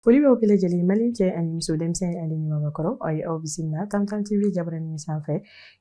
Foli b'aw bɛɛ lajɛlen mali cɛ ani muso denmisɛnnin ale ni maakɔrɔ aw ye aw bisimila tamtam tv jabaranin sanfɛ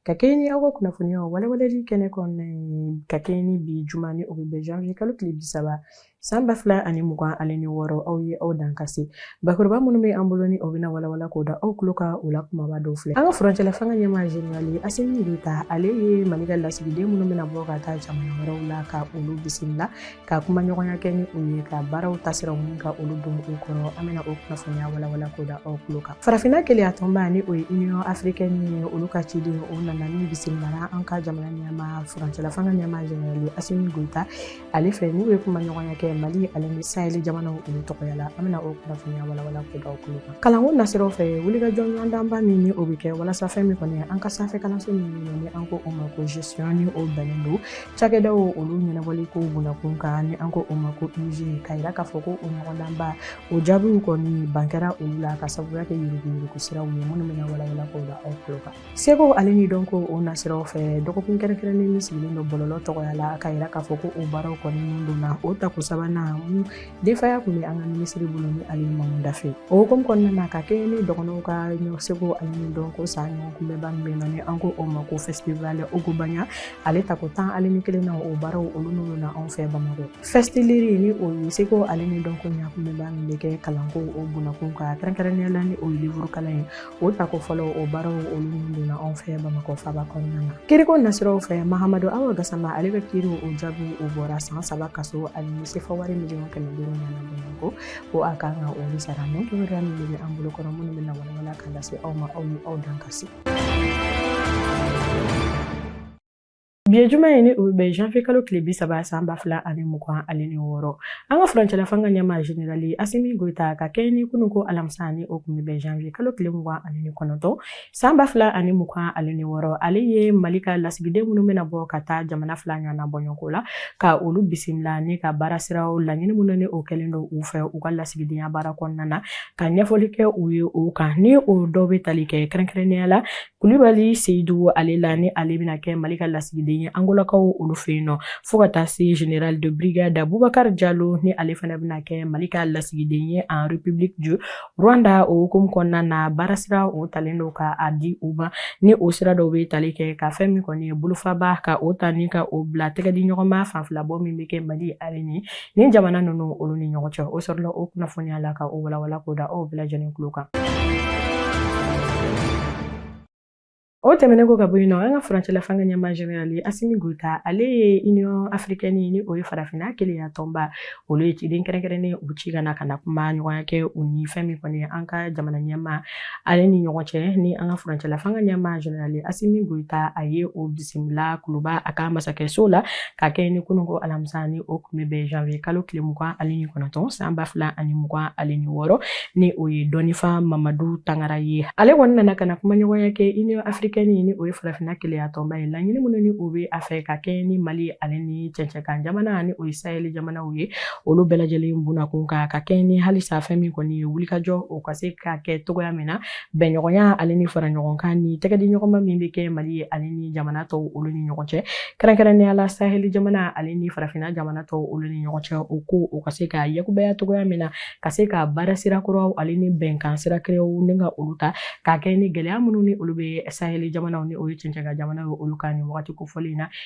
ka kɛɲɛ ni aw ka kunnafoniyaw walawalali kɛnɛ kɔnɔna ye ka kɛɲɛ ni bi juma ni o bɛ bɛn janvier kalo tile bi saba San ba fila ani mugan ale ni wɔɔrɔ aw ye aw dan ka se bakuruba minnu bɛ an bolo ni o bɛna walawala k'o da aw tulo kan o la kumaba dɔw filɛ an ka furancɛla fanga ɲɛmaa zenerali asimi goyita ale ye mali ka lasigiden minnu bɛna bɔ ka taa jamana wɛrɛw la ka olu bisimila ka kuma ɲɔgɔnya kɛ ni u ye ka baaraw tasiraw min ka olu don u kɔnɔ an bɛna o kunnafoniya walawala k'o da aw tulo kan farafinna kelenya tɔnba ni o ye union africaine ye olu ka ciden o nana ni bisimilala an ka jamana ɲɛmaa furancɛla fanga ɲɛmaa zenerali asimi goyita ale fɛ n'u ye kuma ɲɔgɔnya kɛ mali ale ni saheli jamanaw olu tɔgɔya la an bɛna o kunnafoniya walawala k'o da aw tulo kan kalanko nasiraw fɛ wulikajɔ ɲɔgɔndanba min ni o bɛ kɛ walasa fɛn min kɔni an ka sanfɛ kalanso min ɲini ni an ko o ma ko gestion ni o bɛnnen don cakɛdaw olu ɲɛnabɔli ko bunakun kan ni an ko o ma ko iug ka yira k'a fɔ ko o ɲɔgɔndanba o jaabiw kɔni ban kɛra olu la ka sababuya kɛ yuruguyurugu siraw ye minnu bɛna walawala k'o da aw tulo kan Seko ale ni dɔnko o nasiraw fɛ dɔgɔkun kɛrɛnkɛrɛnnen min sigilen don bɔlɔlɔ tɔgɔya la ka yira k'a fɔ ko o baaraw kɔni donna o tako sabanan min denfaya tun bɛ an ka minisiri bolo ni ale mamu dafe o hukumu kɔnɔna na ka kɛ ni dɔgɔnɔw ka seko ale ni dɔnko san ɲɔgɔnkunbɛnba min bɛ nɔ ni an ko o ma ko fɛsitiwale ogobaɲa ale tako tan ale ni kelen na o baaraw olu min donna anw fɛ bamakɔ fɛsitiliri ni o ye seko ale ni dɔnko ɲɔgɔnkunbɛnba min bɛ kɛ kalanko o bunakun kan kɛrɛnkɛrɛnnenya la ni o ye livuru kalan ye O tako fɔlɔ o baaraw olu min donna anw fɛ bamakɔ faba kɔnɔna na kiriko nasiraw fɛ mahamadu hawa gasama ale bɛ kiri o jaabi o bɔra san saba kaso ani sefa wari miliyɔn kɛmɛ duuru nana bamakɔ ko a kan ka olu sara nin kibaruya min bɛ an bolo kɔnɔ minnu bɛna walawala ka lase aw ma aw ye aw dan ka se Bi ye juma ye ni o bɛ bɛn janvier kalo tile bi saba san ba fila ani mugan ale ni wɔɔrɔ an ka furancɛla fanga ɲɛmaa zenerali asimi goyita ka kɛɲɛ ni kunu ko alamisa ni o tun bɛ bɛn janvier kalo tile mugan ale ni kɔnɔntɔn san ba fila ani mugan ale ni wɔɔrɔ ale ye mali ka lasigiden minnu bɛna bɔ ka taa jamana fila ɲɔgɔnna bɔɲɔgɔnko la ka olu bisimila ni ka baara siraw laɲini minnu ni o kɛlen don u fɛ u ka lasigidenya baara kɔnɔna na ka ɲɛfɔli kɛ u ye o kan ni o dɔw bɛ tali kɛ kɛrɛnkɛrɛnnenya la Kulibali Seyidu ale la ni ale bɛna kɛ Mali ka lasigiden ye Angolakaw olu fɛ yen nɔ fo ka taa se General de Brigade Boubacar Diallo ni ale fana bɛna kɛ Mali ka lasigiden ye en République du Rwanda o hukumu kɔnɔna na baarasira o talen don ka a di u ma ni o sira dɔw bɛ tali kɛ ka fɛn min kɔni ye bolofaba ka o ta ni ka o bila tɛgɛdiɲɔgɔnma fanfilabɔ min bɛ kɛ Mali ale ni Ni jamana ninnu olu ni ɲɔgɔn cɛ o sɔrɔla o kunnafoniya la ka o walawala k'o da aw bɛɛ lajɛlen tulo kan o tɛmɛnen kɔ ka bɔ yen nɔ an ka furancɛla fanga ɲɛmaa generali asimi goyita ale ye union africaine ni o ye farafinna kelenya tɔnba olu ye ciden kɛrɛnkɛrɛnnen u ci ka na ka na kumaɲɔgɔnya kɛ u ni fɛn min kɔni an ka jamana ɲɛmaa Ale ni ɲɔgɔn cɛ ni an ka furancɛla fanga ɲɛmaa generali asimi goyita a ye o bisimila kuluba a ka masakɛso la ka kɛ ni kunun ko alamisa ni o tun bɛ bɛn janvier kalo tile mugan ale ni kɔnɔntɔn san ba fila ani mugan ale ni wɔɔrɔ ni o ye dɔnnifa mamadu tangara ye ale kɔni nana ka na kumaɲɔgɔnya kɛ union africaine ni o ye farafinna kelenya tɔnba ye laɲini minnu ni o bɛ a fɛ ka kɛ ni mali ale ni cɛncɛnkan jamana ni o ye saheli jamanaw ye olu bɛɛ lajɛlen bunakun kan ka kɛ ni halisa fɛn min kɔni ye wulikajɔ o ka se ka kɛ cogoya min na bɛnɲɔgɔnya ale ni faraɲɔgɔnkan ni tɛgɛdiɲɔgɔnma min bɛ kɛ mali ye ale ni jamana tɔw olu ni ɲɔgɔn cɛ kɛrɛnkɛrɛnnenya la saheli jamana ale ni farafinna jamana tɔw olu ni ɲɔgɔn cɛ o ko o ka se ka yakubaya cogoya min na ka se ka baara sira kuraw ale ni bɛnkan sira kuraw ni ka olu ta ka kɛ ni gɛlɛya minnu ni olu bɛ saheli jamanaw ni o ye cɛncɛnkan jamanaw ye olu kan ni wagati kofɔlen in na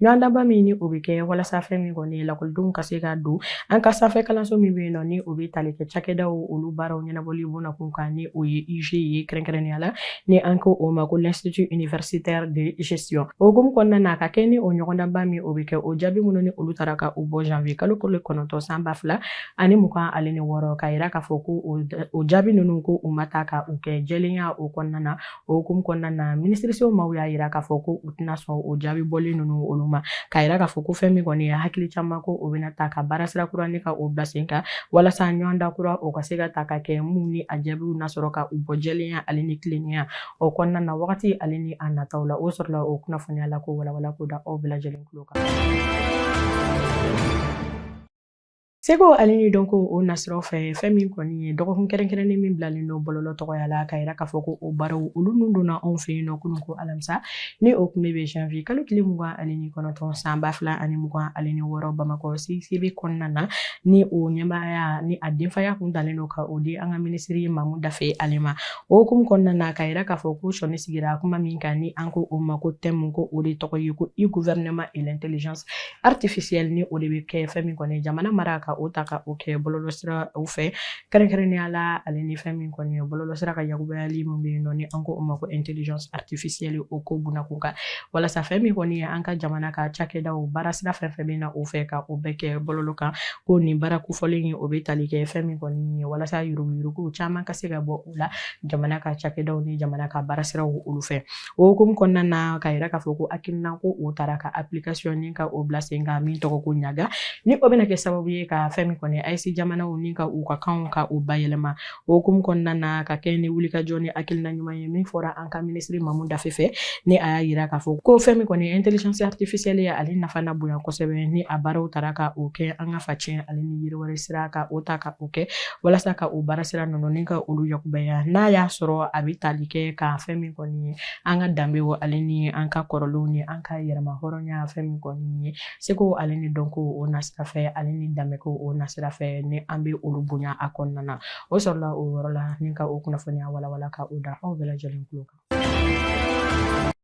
Ɲɔgɔndanba min ni o bɛ kɛ walasa fɛn min kɔni ye lakɔlidenw ka se ka don an ka sanfɛ kalanso min bɛ yen nɔ ni o bɛ tali kɛ cakɛdaw olu baaraw ɲɛnabɔli bunakun kan ni o ye IUG ye kɛrɛnkɛrɛnnenya la ni an ko o ma ko l'institut universitaire de gestion o hukumu kɔnɔna na ka kɛ ni o ɲɔgɔndanba min o bɛ kɛ o jaabi minnu ni olu taara ka u bɔ janvier kalo kolo kɔnɔntɔn san ba fila ani mugan ale ni wɔɔrɔ k'a yira k'a fɔ ko o jaabi ninnu ko u ma taa ka u kɛ jɛlenya o kɔnɔna na o hukumu kɔnɔna na minisiriso maaw y'a yira k'a fɔ ko u tɛna sɔn o jaabi bɔlen ninnu olu ma k'a yira k'a fɔ ko fɛn min kɔni ye hakili caman ko o bɛna ta ka baara sira kura ni ka o bila sen kan walasa ɲɔgɔndan kura o ka se ka ta ka kɛ minnu ni a jaabiw na sɔrɔ ka u bɔ jɛlenya ale ni tilennenya o kɔnɔna na wagati ale ni a nataw la o sɔrɔla o kunnafoniya la k'o walawala k'o da aw bɛɛ lajɛlen tulo kan Seko ale ni dɔnko o nasiraw fɛ fɛn min kɔni ye dɔgɔkun kɛrɛnkɛrɛnnen min bilalen don bɔlɔlɔ tɔgɔya la k'a yira k'a fɔ ko o baaraw olu nun donna anw fɛ yen nɔ kunun ko alamisa ni o tun bɛ bɛn janvier kalo tile mugan ale ni kɔnɔntɔn san ba fila ani mugan ale ni wɔɔrɔ bamakɔ CICB kɔnɔna na ni o ɲɛmaaya ni a denfaya kun dalen don ka o di an ka minisiri Mamu Dafe ale ma o hukumu kɔnɔna na k'a yira k'a fɔ ko sɔnni sigira kuma min kan ni an ko o ma ko thème ko o de tɔgɔ ye ko e-gouvernement et l'intelligence artificielle ni o de bɛ kɛ fɛn min kɔni jamana mara ka o ta ka o kɛ bɔlɔlɔsiraw fɛ kɛrɛnkɛrɛnnenya la ale ni fɛn min kɔni ye bɔlɔlɔsira ka yakubayali min bɛ yen nɔ ni an ko o ma ko intelligence artificielle o ko bunakun kan walasa fɛn min kɔni ye an ka jamana ka cakɛdaw baarasira fɛn fɛn bɛ na o fɛ ka o bɛɛ kɛ bɔlɔlɔ kan ko nin baara kofɔlen ye o bɛ tali kɛ fɛn min kɔni ye walasa yuruguyuruguw caman ka se ka bɔ u la jamana ka cakɛdaw ni jamana ka baarasiraw olu fɛ o hukumu kɔnɔna na ka yira k'a fɔ ko hakilina ko o taara ka application ni ka o bila sen kan min tɔgɔ ko ɲaga ni o bɛna kɛ sababu ye ka fɛn min kɔni AES jamanaw ni ka u ka kanw ka u bayɛlɛma o hukumu kɔnɔna na ka kɛ ni wulikajɔ ni hakilina ɲuman ye min fɔra an ka minisiri mamu dafe fɛ ni a y'a yira k'a fɔ ko fɛn min kɔni intelligence artificielle ye ale nafa na bonya kosɛbɛ ni a baaraw taara ka o kɛ an ka facɛn ale ni yiriwali sira ka o ta ka o kɛ walasa ka o baara sira ninnu ni ka olu yakubaya n'a y'a sɔrɔ a bɛ tali kɛ ka fɛn min kɔni ye an ka danbew ale ni an ka kɔrɔlenw ni an ka yɛrɛma hɔrɔnya fɛn min kɔni ye seko ale ni dɔnko o nasira fɛ ale ni danbeko o nasira fɛ ni an bɛ olu bonya a kɔnɔna na o sɔrɔla o yɔrɔ la ni ka o kunnafoniya walawala ka o da aw bɛɛ lajɛlen tulo kan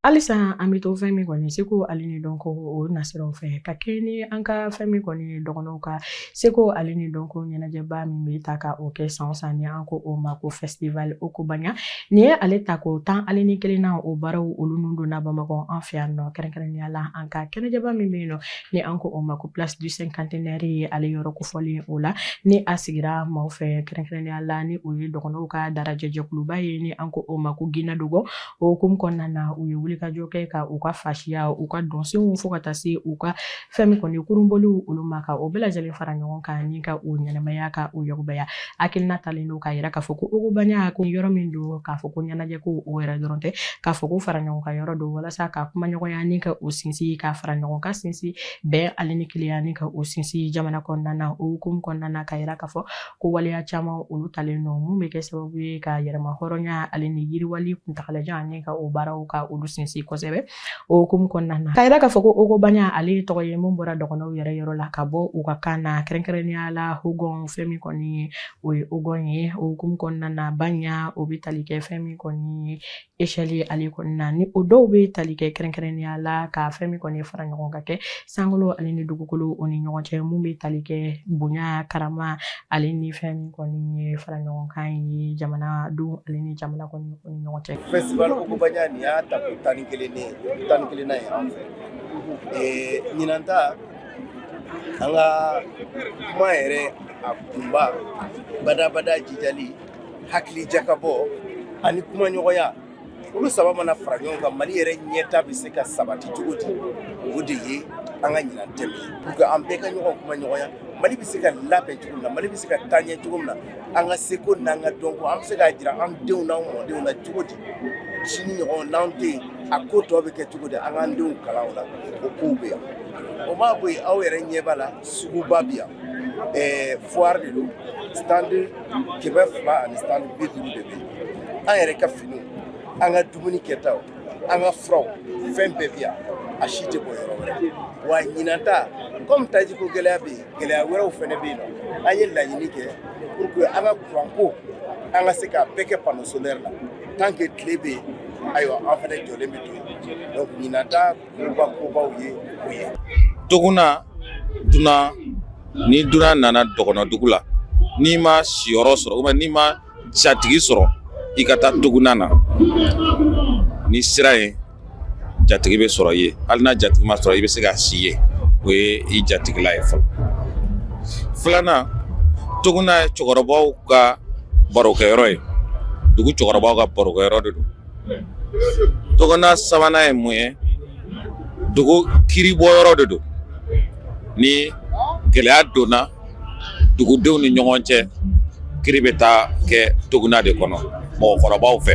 halisa an bɛ to fɛn min kɔni seko ale ni dɔnko o nasiraw fɛ ka kɛɲɛ ni an ka fɛn min kɔni ye dɔgɔnɔw ka Seko ale ni dɔnko ɲɛnajɛba min bɛ ta ka o kɛ san o san ni an ko o ma ko festival Ogobanya nin ye ale tako tan ale ni kelen na o baaraw olu nun donna Bamakɔ an fɛ yan nɔ kɛrɛnkɛrɛnnenya la an ka kɛnɛjɛba min bɛ yen nɔ ni an ko o ma ko place du cinquantenaire ye ale yɔrɔ kofɔlen o la ni a sigira maaw fɛ kɛrɛnkɛrɛnnenya la ni o ye dɔgɔnɔw ka darajɛjɛkuluba ye ni an ko o ma ko Gina Dogon o hukumu kɔnɔna na u ye wulikajɔ kɛ ka u ka fasiya u ka dɔnsenw fo ka taa se u ka fɛn min kɔni kurunboliw olu ma ka o bɛɛ lajɛlen fara ɲɔgɔn kan ni ka o ɲɛnɛmaya ka o yakubaya hakilina talen don k'a yira k'a fɔ ko ogobanya ko yɔrɔ min don k'a fɔ ko ɲɛnajɛ ko o yɛrɛ dɔrɔn tɛ k'a fɔ ko fara ɲɔgɔn kan yɔrɔ don walasa ka kumaɲɔgɔnya ni ka o sinsin ka fara ɲɔgɔn kan sinsin bɛn ale ni kelenya ni ka o sinsin jamana kɔnɔna na o hukumu kɔnɔna na k'a yira k'a fɔ ko waleya caman olu talen don mun bɛ kɛ sababu ye ka yɛrɛma hɔrɔnya ale ni yiriwali kuntagalajan ani ka o baaraw ka olu sinsin kosɛbɛ o hukumu kɔnɔna na k'a yira k'a fɔ ko ogobanya ale ye tɔgɔ ye mun bɔra dɔgɔnɔw yɛrɛ yɔrɔ la ka bɔ u ka kan na kɛrɛnkɛrɛnnenya la hogɔn fɛn min kɔni o ye ogɔn ye o hukumu kɔnɔna na banya o bɛ tali kɛ fɛn min kɔni ye échelle ale kɔnɔna na ni o dɔw bɛ tali kɛ kɛrɛnkɛrɛnnenya la ka fɛn min kɔni fara ɲɔgɔn kan kɛ sankolo ale ni dugukolo o ni ɲɔgɔn cɛ mun bɛ tali kɛ bonya karama ale ni fɛn min kɔni ye fara ɲɔgɔn kan ye jamana don ale ni jamana kɔni o ni ɲɔgɔn cɛ. festival Ogobanya nin y'a tako tan ni kelen ne tan ni kelennan ye an fɛ ee, ɲinan ta an ka kuma yɛrɛ a kunba badabada jijali hakili jakabɔ ani kumaɲɔgɔnya olu saba mana fara ɲɔgɔn kan mali yɛrɛ ɲɛta bɛ se ka sabati cogo di o de ye an ka ɲinan thème ye pour que an bɛɛ ka ɲɔgɔn kuma ɲɔgɔnya mali bɛ se ka labɛn cogo min na mali bɛ se ka taa ɲɛ cogo min na an ka seko n'an ka dɔnko an bɛ se k'a jira an denw n'an mɔdenw na cogo di sini ɲɔgɔn n'an tɛ yen a ko tɔ bɛ kɛ cogo di an k'an denw kalan o la o kow bɛ yan o ma bɔ yen aw yɛrɛ ɲɛ b'a la suguba bɛ yan ɛɛ foire de don stand kɛmɛ fila ani stand bi duuru de bɛ yen an yɛrɛ ka finiw an ka dumuni kɛtaw an ka furaw fɛn bɛɛ bi yan a si tɛ bɔ yɔrɔ wɛrɛ wa ɲinan ta kɔmi tajiko gɛlɛya bɛ yen gɛlɛya wɛrɛw fɛnɛ bɛ yen nɔ an ye laɲini kɛ pour que an ka kuranko an ka se k'a bɛɛ kɛ panneau solaire la tant que tile bɛ yen ayiwa an fɛnɛ jɔlen bɛ to yen donc ɲinan ta kobaw ye o ye toguna dunan ni dunan nana dɔgɔnɔ dugu la n'i ma siyɔrɔ sɔrɔ ou bien n'i ma jatigi sɔrɔ i ka taa toguna na n'i sera yen jatigi bɛ sɔrɔ i ye hali n'a jatigi ma sɔrɔ i bɛ se ka si yen o ye i jatigila ye fɔlɔ filanan toguna ye cɛkɔrɔbaw ka barokɛyɔrɔ ye dugu cɛkɔrɔbaw ka barokɛyɔrɔ de don toguna sabanan ye mun ye dugu kiribɔyɔrɔ de don ni gɛlɛya donna dugudenw ni ɲɔgɔn cɛ kiri bɛ taa kɛ toguna de kɔnɔ mɔgɔkɔrɔbaw fɛ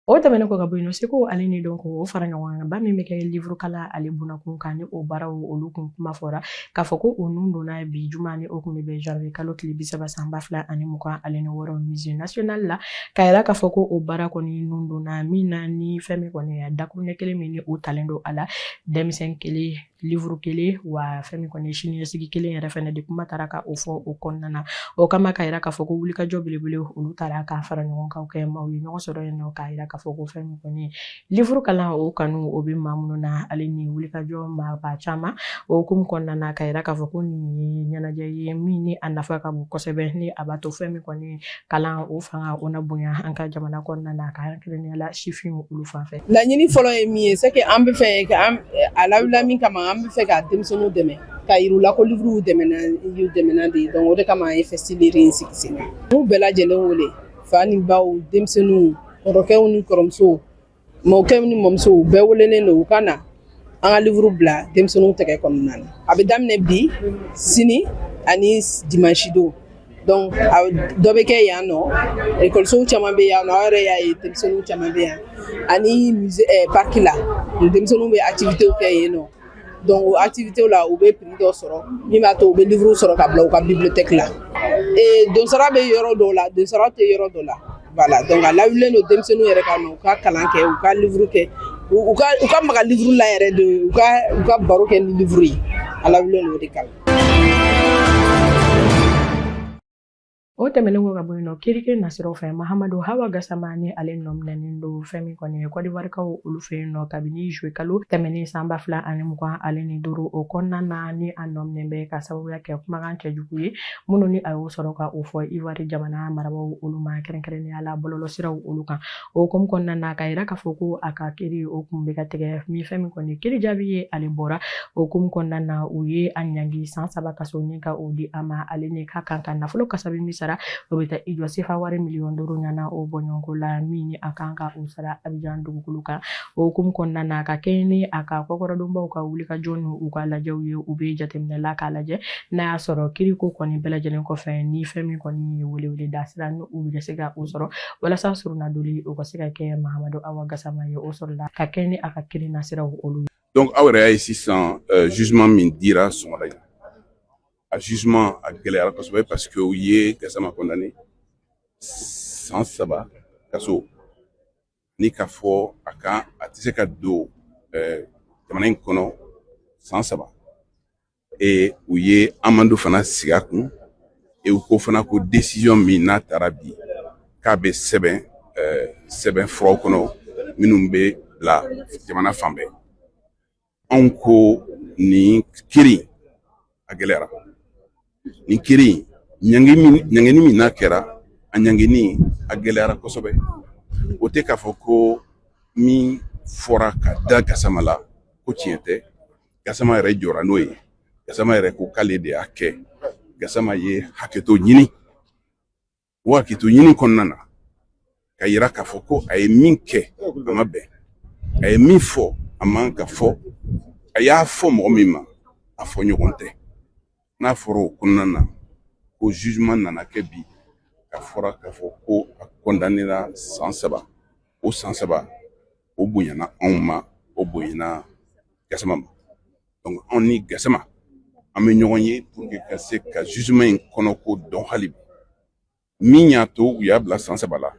o tɛmɛnen kɔ ka bɔ yen nɔ seko ale ni dɔnko o faraɲɔgɔnkanba min bɛ kɛ livuru kalan ale bunakun kan ni o baaraw olu kun kuma fɔra k'a fɔ ko o nun donna bi juma ni o kun bɛ bɛn janvier kalo tile bi saba san ba fila ani mugan ale ni wɔɔrɔ musée national la k'a yira k'a fɔ ko o baara kɔni nun donna min na ni fɛn min kɔni ye dakuruɲɛ kelen min ni o talen don a la denmisɛn kelen livuru kelen wa fɛn min kɔni ye siniɲɛsigi kelen yɛrɛ fɛnɛ de kuma taara ka o fɔ o kɔnɔna na o kama k'a yira k'a fɔ ko wulikajɔ belebele olu taara ka faraɲɔgɔnkan kɛ maaw ye ɲɔgɔn sɔrɔ yen nɔ k'a yira k'a fɔ ko fɛn min kɔni livuru kalan o kanu o bɛ maa minnu na ale ni wulikajɔ maaba caman o hukumu kɔnɔna na k'a yira k'a fɔ ko nin ye ɲɛnajɛ ye min ni a nafa ka bon kosɛbɛ ni a b'a to fɛn min kɔni kalan o fanga o na bonya an ka jamana kɔnɔna na ka kɛrɛnkɛrɛnnenya la sifinw olu fan fɛ laɲini fɔlɔ ye min ye c'est que an bɛ fɛ ka an a lawulila min kama an bɛ fɛ ka denmisɛnninw dɛmɛ k'a yir'u la ko livuru dɛmɛna y'u dɛmɛna de donc o de kama an ye festilire in sigi sen kan n'u bɛɛ lajɛlen wele fa ni baw denmisɛnninw kɔrɔkɛw ni kɔrɔmusow mɔkɛ ni mɔmuso u bɛɛ welelen don u ka na an ka livuru bila denmisɛnninw tɛgɛ kɔnɔna na a bɛ daminɛ bi sini ani dimansi don donc dɔ bɛ kɛ yan nɔ ekɔlisow caman bɛ yan nɔ aw yɛrɛ y'a ye denmisɛnninw caman bɛ yan ani musée parc la denmisɛnninw bɛ activités kɛ yen nɔ donc o activité la u bɛ prix dɔ sɔrɔ min b'a to u bɛ livre sɔrɔ ka bila u ka bibliothèque la et donsara bɛ yɔrɔ dɔw la donsara tɛ yɔrɔ dɔ la voilà donc a lawulilen don denmisɛnninw yɛrɛ ka u ka kalan kɛ u ka livre kɛ u ka u ka maga livre la yɛrɛ de u ka u ka baro kɛ ni livre ye a lawulilen don o de kama O tɛmɛnen kɔ ka bɔ yen nɔ kiriko nasiraw fɛ mahamadu hawa gasama ni ale nɔminɛnen don fɛn min kɔni ye kɔdiwarikaw olu fɛ yen nɔ kabini zuwe kalo tɛmɛnen san ba fila ani mugan ale ni duuru o kɔnɔna na ni a nɔminɛ bɛ ka sababuya kɛ kumakan cɛjugu ye minnu ni a y'o sɔrɔ ka o fɔ iwari jamana marabaw olu ma kɛrɛnkɛrɛnnenya la bɔlɔlɔsiraw olu kan o hukumu kɔnɔna na k'a yira k'a fɔ ko a ka kiri o kun bɛ ka tigɛ min fɛn min kɔni kiri jaabi ye ale bɔra o hukumu kɔnɔna na u ye a ɲangi san saba kaso ni ka o di a ma ale ni ka kan ka nafolo kasabi min sara o bɛ taa i jɔ sefa wari miliyɔn duuru ɲana o bɔɲɔgɔnko la min ni a kan ka o sara abijan dugukolo kan o hukumu kɔnɔna na ka kɛɲɛ ni a ka kɔkɔrɔdonbaw ka wulikajɔ ni u ka lajɛw ye u bɛ jateminɛ la k'a lajɛ n'a y'a sɔrɔ kiriko kɔni bɛɛ lajɛlen kɔfɛ ni fɛn min kɔni ye welewele da sira ni u bɛ se ka o sɔrɔ walasa surunadoli o ka se ka kɛ mahamadu awa gasama ye o sɔrɔla ka kɛ ni a ka kiri nasiraw olu ye donc aw yɛrɛ y'a ye sisan euh, jugement min dira sɔgɔmada in na jugement a gɛlɛyara kosɛbɛ parce que u ye gasama condamné san saba kaso ni k'a fɔ a kan a tɛ se ka don euh, jamana in kɔnɔ san saba ee u ye amende fana sigi a kun u ko fana ko décision min n'a taara bi k'a bɛ sɛbɛn eh, sɛbɛnfuraw kɔnɔ minnu bɛ bila jamana fan bɛɛ anw ko nin kiri a gɛlɛyara nin kiri ɲangini min n'a kɛra a ɲangini a gɛlɛyara kosɛbɛ o tɛ k'a fɔ ko min fɔra ka da gasama la ko tiɲɛ tɛ gasama yɛrɛ jɔra n'o ye gasama yɛrɛ ko k'ale de y'a kɛ gasama ye hakɛto ɲini o hakɛto ɲini kɔnɔna na k'a yira k'a fɔ ko a ye min kɛ a ma bɛn a ye min fɔ a man ka fɔ a y'a fɔ mɔgɔ min ma a fɔ ɲɔgɔn tɛ n'a fɔra o kɔnɔna na ko jugement nana kɛ bi k'a fɔra k'a fɔ ko a kɔndanera san saba o san saba o bonyana anw ma o bonyana gasama ma donc anw ni gasama an bɛ ɲɔgɔn ye pour que ka se ka jugement in kɔnɔko dɔn hali bi min y'a to u y'a bila san saba la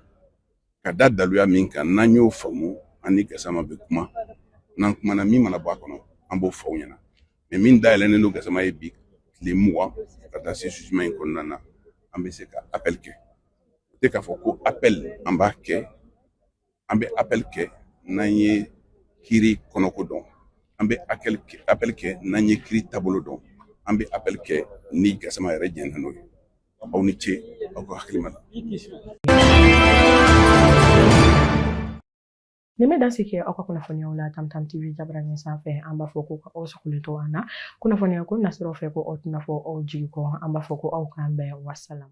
ka da daluya min kan n'an y'o faamu an ni gasama bɛ kuma n'an kumana min mana bɔ a kɔnɔ an b'o fɔ aw ɲɛna mais min dayɛlɛnnen don gasama ye bi tile mugan ka taa se jugement in kɔnɔna na an bɛ se ka appel kɛ o tɛ k'a fɔ ko appel an b'a kɛ an bɛ appel kɛ n'an ye kiri kɔnɔko dɔn an bɛ appel kɛ n'an ye kiri taabolo dɔn an bɛ appel kɛ ni gasama yɛrɛ jɛnna n'o ye aw ni ce aw ka hakilima la Nin bɛ dansigi kɛ aw ka kunnafoniyaw la Tam Tam TV jabaranin sanfɛ an b'a fɔ ko ka aw sagolen to an na kunnafoniya ko nasiraw fɛ ko aw tɛna fɔ aw jigi kɔ an b'a fɔ ko aw k'an bɛn wasalaam